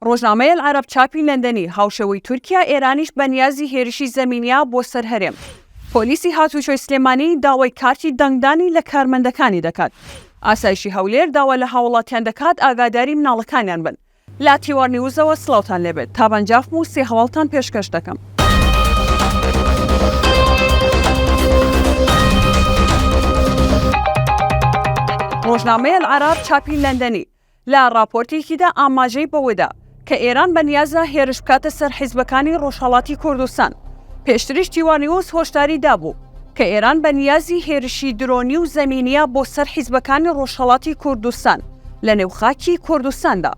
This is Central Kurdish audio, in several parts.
ڕۆژنامەی ئەلعەرەب چاپی لەندەنی هاوشێوەی تورکیا ئێرانیش بە نیازی هێرشی زەمینییە بۆ سەر هەرێم. پۆلیسی هاتووچۆی سلێمانی داوای کارتی دەنگدانی لە کارمەندەکانی دەکات. ئاسایشی هەولێر داوا لە هاوڵاتیان دەکات ئاگاداری مناڵەکانیان بن. لە تیوەر نیوزەوە سڵاوتان لێ بێت تا بەنجافم و سێ هەواڵتان پێشکەش دەکەم. ڕۆژنامەی ئەلعەرەب چاپی لەندەنی لە ڕاپۆرتێکیدا ئاماژەی بەوەدا کە ئێران بە نیازە هێرش بکاتە سەر حیزبەکانی ڕۆژهەڵاتی کوردستان. پێشتریش تیوا نیوز هۆشداری دابوو کە ئێران بە نیازی هێرشی درۆنی و زەمینییە بۆ سەر حیزبەکانی ڕۆژهەڵاتی کوردستان لە نێو خاکی کوردستاندا.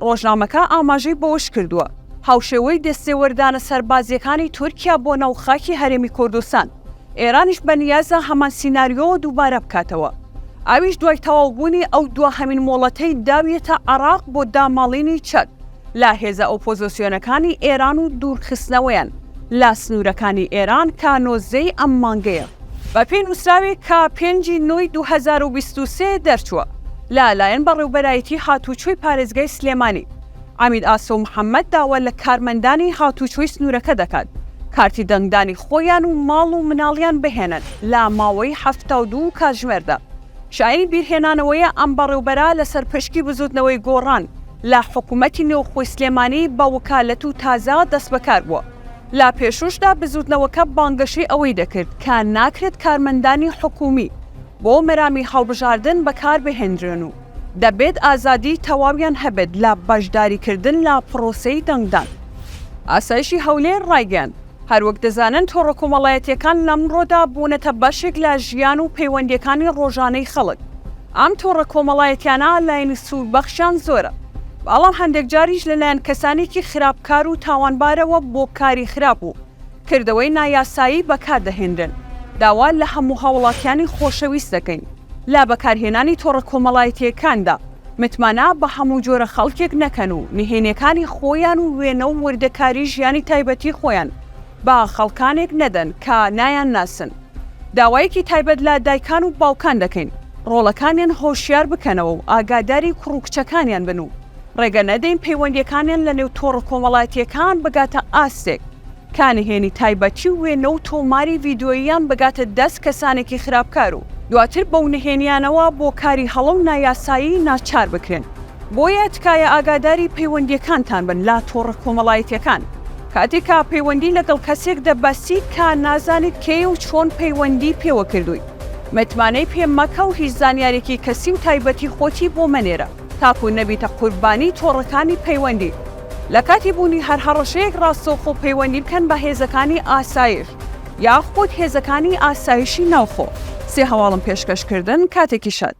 ڕۆژنامەکە ئاماژەی بەوەشکردووە، هاوشێوەی دەستێوەردانە سەربازییەکانی تورکیا بۆ ناو خاکی هەرێمی کوردستان، ئێرانیش بە نیازە هەمان سیناریۆ دووبارە بکاتەوە، ئەویش دوای تەواوبوونی ئەو دواهەمین مۆڵەتەی داویەتە عێراق بۆ داماڵینی چەک لە هێزە ئۆپۆزۆسیۆنەکانی ئێران و دوورخستنەوەیان لە سنوورەکانی ئێران کە نۆزدەی ئەم مانگەیە بە پێی نووسراوێک کە پێنج ی نۆی دوو هەزار و بیست و سێ دەرچووە لە لایەن بەڕێوبەرایەتی هاتووچۆی پارێزگای سلێمانی. عەمید ئاسۆ محەمەد داوا لە کارمەندانی هاتووچۆی سنوورەکە دەکات کارتی دەنگدانی خۆیان و ماڵ و مناڵیان بهێنن لە ماوەی حەفتا و دوو کاتژمێردا شایەنی بیرهێنانەوەیە ئەم بەڕێوبەرە لەسەر پشکی بزوتنەوەی گۆڕان لە حکومەتی نێوخۆی سلێمانی بە وکالەت و تازە دەستبەکار بووە لە پێشووشدا بزوتنەوەکە بانگەشەی ئەوەی دەکرد کە ناکرێت کارمەندانی حکومی بۆ مەرامی هەڵبژاردن بەکاربهێنرێن و دەبێت ئازادیی تەواویان هەبێت لە بەشداریکردن لە پڕۆسەی دەنگدان. ئاسایشی هەولێر ڕایگەیاند، هەروەک دەزانن تۆڕە کۆمەڵایەتییەکان لەمڕۆدا بوونەتە بەشێک لە ژیان و پەیوەندییەکانی ڕۆژانەی خەڵک، ئەم تۆڕە کۆمەڵایەتییانە لایەنی سوودبەخشیان زۆرە، بەڵام هەندێکجاریش لەلایەن کەسانێکی خراپکار و تاوانبارەوە بۆ کاری خراپ و کردەوەی نایاسایی بەکار دەهێنرێن، داوا لە هەموو هاوڵاتیانی خۆشەویست دەکەین لە بەکارهێنانی تۆڕە کۆمەڵایتیەکاندا متمانە بە هەموو جۆرە خەڵکێک نەکەن و نهێنیەکانی خۆیان و وێنە و وردەکاری ژیانی تایبەتی خۆیان بە خەڵکانێک نەدەن کە نایانناسن. داوایەکی تایبەت لە دایکان و باوکان دەکەین ڕۆڵەکانیان هۆشیار بکەنەوە و ئاگاداری کوڕ و کچەکانیان بن و، ڕێگە نەدەین پەیوەندییەکانیان لە نێو تۆڕە کۆمەڵاتییەکان بگاتە ئاستێک تا نهێنی تایبەتی و وێنە و تۆماری ڤیدۆییان بگاتە دەست کەسانێکی خراپکار و دواتر بەو نهێنییانەوە بۆ کاری هەڵە و نایاسایی ناچار بکرێن. بۆیە تکایە ئاگاداری پەیوەندییەکانتان بن لە تۆڕە کۆمەڵایتییەکان. کاتێکا پەیوەندی لەگەڵ کەسێک دەبەستیت کە نازانیت کێیە و چۆن پەیوەندی پێوە کردووی، متمانەی پێ مەکە و هیچ زانیارییەکی کەسی و تایبەتی خۆتی بۆ مەنێرە. تاکو نەبیتە قوربانی تۆڕەکانی پەیوەندی، لە کاتی بوونی هەر هەڕەشەیەک ڕاستەوخۆ پەیوەندی بکەن بە هێزەکانی ئاسایش یاخود هێزەکانی ئاسایشی ناوخۆ. سێ هەواڵم پێشکەش کردن کاتێکی شەت.